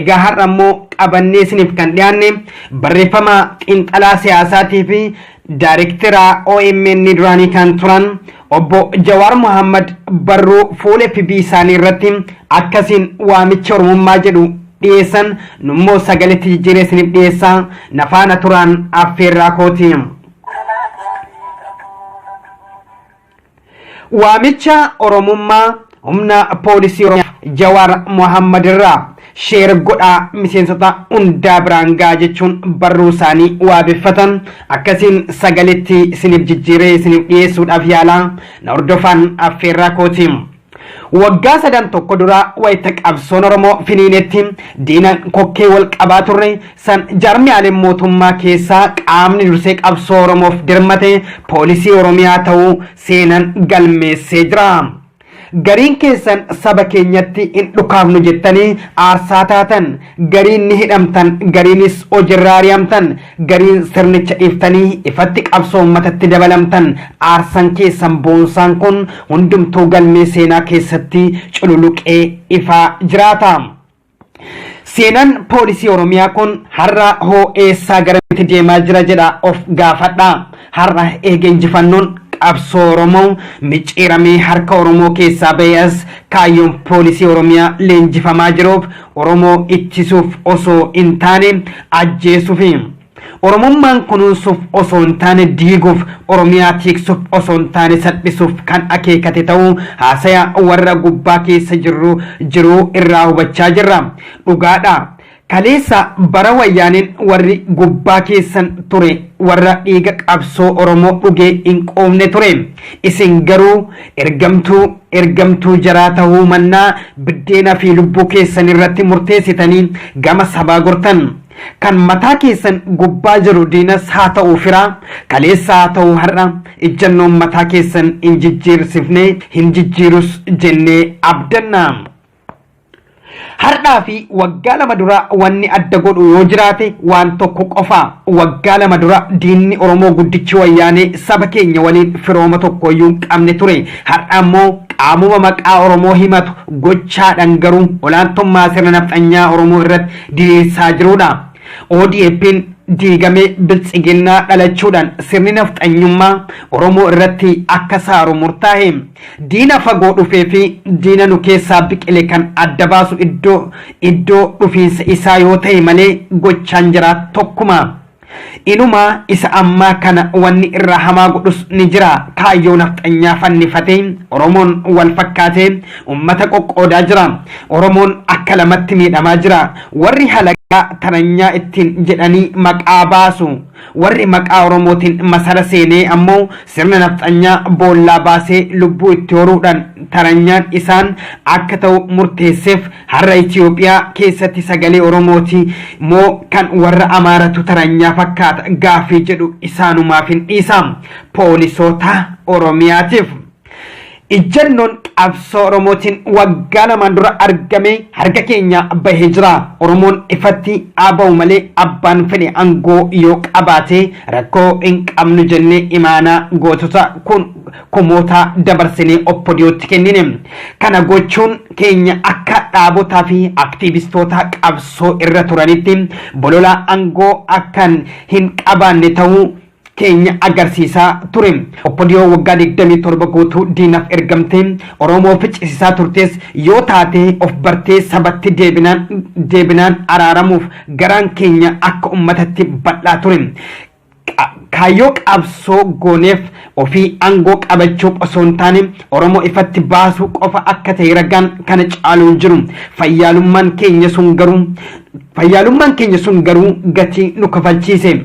Egaa har'a immoo qabannee isiniif kan dhiyaanne barreeffama xiinxalaa siyaasaatii fi daayirektera OMN duraanii kan turan obbo Jawaar Mohaammed barruu fuula FB isaanii irratti akkasiin waamicha Oromummaa jedhu dhiyeessan nummoo sagaletti jijjiiree isiniif dhiyeessaa na faana turaan affeerraa kooti. Waamicha Oromummaa Humna Poolisii Oromiyaa Jawaar Mohammad irraa sheer godhaa miseensota hundaa biraan ga'a jechuun barruu isaanii waabeffatan akkasiin sagaletti isiniif jijjiiree isiniif dhiyeessuudhaaf yaalaa na hordofaan affeerraa kooti. Waggaa sadan tokko dura wayita qabsoon Oromoo finiinetti diina kokkee wal qabaa turre san jaarmiyaaleen mootummaa keessaa qaamni dursee qabsoo Oromoof dirmate poolisii Oromiyaa ta'uu seenan galmeessee jira. Gariin keessan saba keenyatti hin dhukaafnu jettanii aarsaa taatan, gariin ni hidhamtan, gariinis hojirraa ari'amtan, Gariin sirnicha dhiiftanii ifatti qabsoo ummatatti dabalamtan aarsan keessan boonsaan kun hundumtuu galmee seenaa keessatti cululuqee ifaa jiraata. Seenan poolisii Oromiyaa kun har'a hoo eessaa garamitti deemaa jira jedha of gaafadha. Har'a eega injifannoon qabsoo Oromoo micciiramee harka Oromoo keessaa ba'e as kaayyoon poolisii Oromiyaa leenjifamaa jiruuf Oromoo ittisuuf osoo hin taane ajjeesuufi. Oromummaan kunuunsuuf osoo hin taane diiguuf, Oromiyaa tiiksuuf osoo hin taane salphisuuf kan akeekate ta'uu haasaya warra gubbaa keessa jirru jiruu irraa hubachaa jirra. Dhugaadha. Kaleessa bara wayyaaneen warri gubbaa keessan ture warra dhiiga qabsoo Oromoo dhugee hin quufne ture. Isin garuu Ergamtuu, ergamtuu jaraa tahuu mannaa biddeena fi lubbuu keessan irratti murteessitanii gama sabaa gortan. Kan mataa keessan gubbaa jiru diinas haa ta'u firaa, kaleessa haa ta'u har'a, ijjannoon mataa keessan hin jijjiirsifne, hin jijjiirus jennee abdanna. Har'aa fi waggaa lama dura wanni adda godhu yoo jiraate waan tokko qofa. Waggaa lama dura diinni Oromoo guddichi Wayyaanee saba keenya waliin firooma tokkooyyuu hin qabne ture. Har'a ammoo qaamuma maqaa Oromoo himatu gochaadhaan garuu olaantummaa sirna nafxanyaa Oromoo irratti diriirsaa jiruudha. ODPn diigamee Biltsiginnaa dhalachuudhaan sirni nafxanyummaa Oromoo irratti akka saaru murtaahe. Diina fagoo dhufee fi diina nu keessaa biqile kan adda baasu iddoo iddoo dhufiinsa isaa yoo ta'e malee gochaan jiraa tokkuma. Inumaa isa ammaa kana wanni irraa hamaa godhus ni jira. Kaayyoo nafxanyaa fannifatee Oromoon wal fakkaatee ummata qoqqoodaa jira. Oromoon akka lamatti miidhamaa jira. Warri halagaa taranyaa ittiin jedhanii maqaa baasu Warri maqaa Oromootiin masara seenee ammoo sirna nafxanyaa boollaa baasee lubbuu itti horuudhaan taranyaan isaan akka ta'u murteesseef har'a Itiyoophiyaa keessatti sagalee Oromooti moo kan warra Amaaratu taranyaa fakkaata gaaffii jedhu isaanumaafin dhiisa. Poolisoota Oromiyaatiif. Ijjannoon qabsoo Oromootiin waggaa lamaan dura argamee harka keenyaa bahee jira. Oromoon ifatti haa bahu malee abbaan fedhe angoo yoo qabaate rakkoo hin qabnu jennee imaanaa gootota kun kumootaa dabarsinee oppodiyootti kennine. Kana gochuun keenya akka dhaabotaa fi aktiivistoota qabsoo irra turanitti bolola angoo akkan hin qabaanne ta'uu keenya agarsiisaa ture. Oppodiyoo waggaa 27 guutuu diinaf ergamtee Oromoo ficcisisaa turtees yoo taatee of bartee sabatti deebinaan deebinaan araaramuuf garaan keenya akka ummatatti bal'aa ture. Qa- Kaayyoo qabsoo gooneef ofii aangoo qabachuuf osoo hin taane Oromoo ifatti baasuu qofa akka ta'e ragaan kana caalu hin jiru. Fayyaalummaan keenya sun garuu fayyaalummaan keenya sun garuu gatii nu kafalchiise.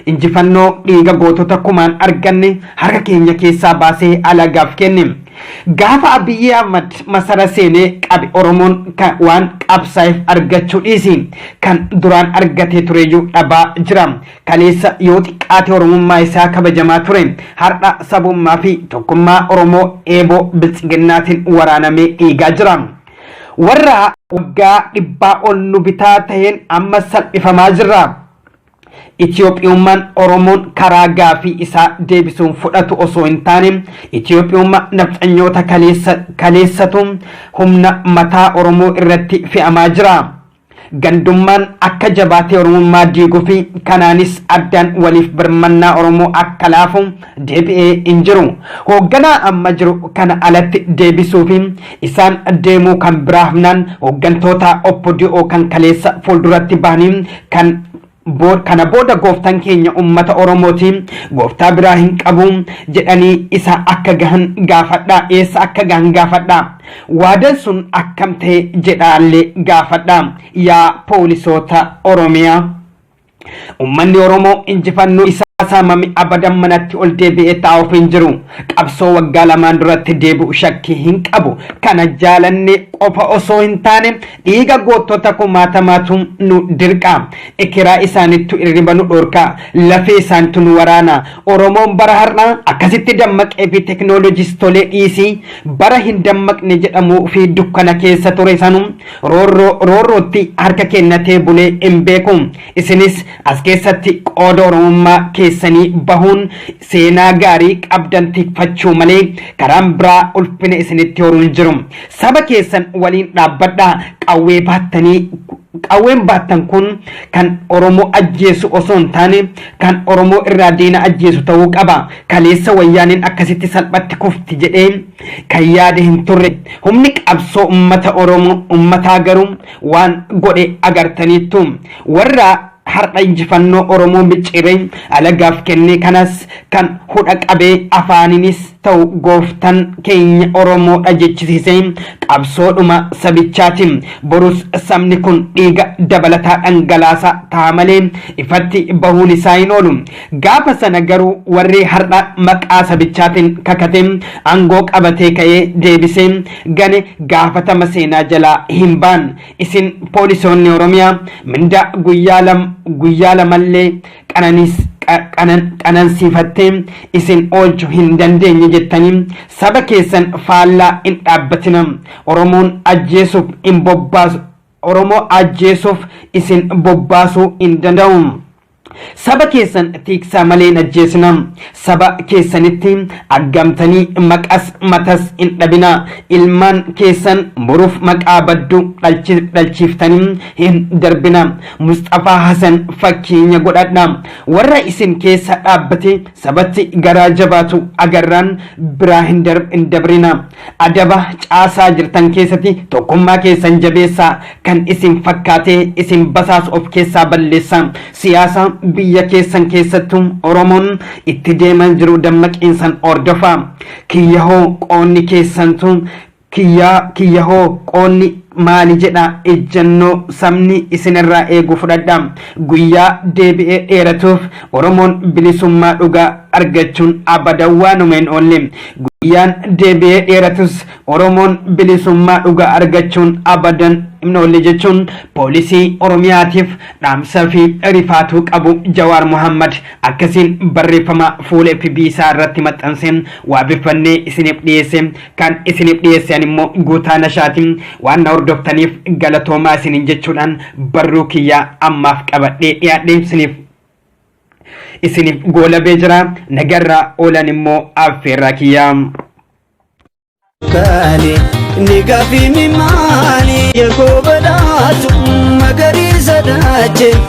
Injifannoo dhiiga gootota kumaan arganne harka keenya keessaa baasee alagaaf kenne. Gaafa Abiyyii Ahmad masara seenee qabe Oromoon ka waan qabsaa'eef argachuu dhiisi kan duraan argatee tureyyuu dhabaa jira. Kaleessa yoo xiqqaate Oromummaa isaa kabajamaa ture har'a sabummaa fi tokkummaa Oromoo eeboo biltsiginnaatiin waraanamee dhiigaa jira. Warra waggaa dhibbaa ol nu bitaa taheen amma salphifamaa jirra. Itiyoophiyummaan Oromoon karaa gaafii isaa deebisuun fudhatu osoo hin taane Itiyoophiyummaa nafxanyoota kaleessa kaleessatu humna mataa Oromoo irratti fe'amaa jira. Gandummaan akka jabaatee Oromummaa diiguu fi kanaanis addaan waliif birmannaa Oromoo akka laafu deebi'ee hin jiru. Hoogganaa amma jiru kana alatti deebisuu fi isaan deemuu kan biraa hafnaan hooggantoota OPDO kan kaleessa fuulduratti bahanii kan Bo- kana booda gooftaan keenya ummata oromooti gooftaa biraa hin qabu jedhanii isa akka gahan gaafadha eessa akka gahan gaafadha waadan sun akkam ta'e jedhaallee gaafadha yaa poolisoota oromiyaa Ummanni Oromoo injifannoo isaa saamame abadan manatti ol deebi'ee taa'uuf hin jiru. Qabsoo waggaa lamaan duratti deebi'u shakkii hin qabu. Kana jaalanne qofa osoo hin taane dhiiga goottota kumaatamaatu nu dirqa. Ekeraa isaanittu irriba nu dhorka. Lafee isaantu nu waraana. Oromoon bara har'aa akkasitti dammaqee fi teknooloojistolee dhiisii bara hin dammaqne jedhamuu fi dukkana keessa ture sanu roorroo roorrootti harka kennatee bulee hin beeku isinis as keessatti qooda oromummaa keessanii bahuun seenaa gaarii qabdan tikfachuu malee karaan biraa ulfina isinitti horuu hin jiru saba keessan waliin dhaabbadhaa qawwee baattanii qawween baattan kun kan oromoo ajjeesu osoo hin taane kan oromoo irraa diina ajjeesu ta'uu qaba kaleessa wayyaaneen akkasitti salphatti kufti jedhee kan yaade hin turre. Humni qabsoo ummata Oromoo ummataa garuu waan godhe agartaniittu. Warra har'a injifannoo Oromoo micciiree alagaaf kenne kanas kan hudha qabee afaaniinis ta'u gooftan keenya Oromoodha jechisiise qabsoodhuma sabichaati. Borus sabni kun dhiiga dabalataa dhangalaasaa ta'a malee ifatti bahuun isaa hin oolu. Gaafa sana garuu warri har'a maqaa sabichaatiin kakatee aangoo qabatee ka'ee deebisee gane gaafatama seenaa jalaa hin ba'an. Isin poolisoonni Oromiyaa mindaa guyyaa lam guyyaa lamallee qananiis qa- qanan- qanansiifattee isin oolchu hin dandeenye jettanii saba keessan faallaa hin dhaabbatina. Oromoon ajjeesuuf hin bobbaasu Oromoo ajjeesuuf isin bobbaasuu hin danda'u. Saba keessan tiiksaa malee hin ajjeesinaa. Saba keessanitti aggamtanii maqas matas hin dhabinaa. Ilmaan keessan boruuf maqaa baddu dhalchi dhalchiiftanii hin darbinaa. Musxafaa Hasan fakkeenya godhadhaa. Warra isin keessa dhaabbatee sabatti garaa jabaatu agarraan biraa hin hin dabrinaa. Adaba caasaa jirtan keessati tokkummaa keessan jabeessaa, kan isin fakkaatee isin basaasu of keessaa balleessaa. Siyaasa biyya keessan keessattu Oromoon itti deemaa jiru dammaqiinsan hordofaa. Kiyya hoo qoonni keessantu kiyyaa kiyya hoo qoonni maali jedha ejjannoo sabni isin irraa eegu fudhadhaa. Guyyaa deebi'ee dheeratuuf Oromoon bilisummaa dhugaa argachuun abada waanuma hin oolle. Guyyaan deebi'ee dheeratus Oromoon bilisummaa dhugaa argachuun abadan hin oolle jechuun poolisii Oromiyaatiif dhaamsa fi rifaatuu qabu Jawaar Mohaammad akkasiin barreeffama fuula FB isaa irratti maxxanseen waabeffannee isiniif dhiyeesse. kan isiniif dhiyeesse an immoo guutaa nashaati waan na hordoftaniif galatoomaa isiniin jechuudhaan barruu kiyyaa ammaaf qabadhee dhiyaadhe isiniif isiniif goolabee jira nagarraa oolan immoo affeerraa kiyyaa. Kaale ni gaafii mi maali yakoo badhaatu magariisa daache.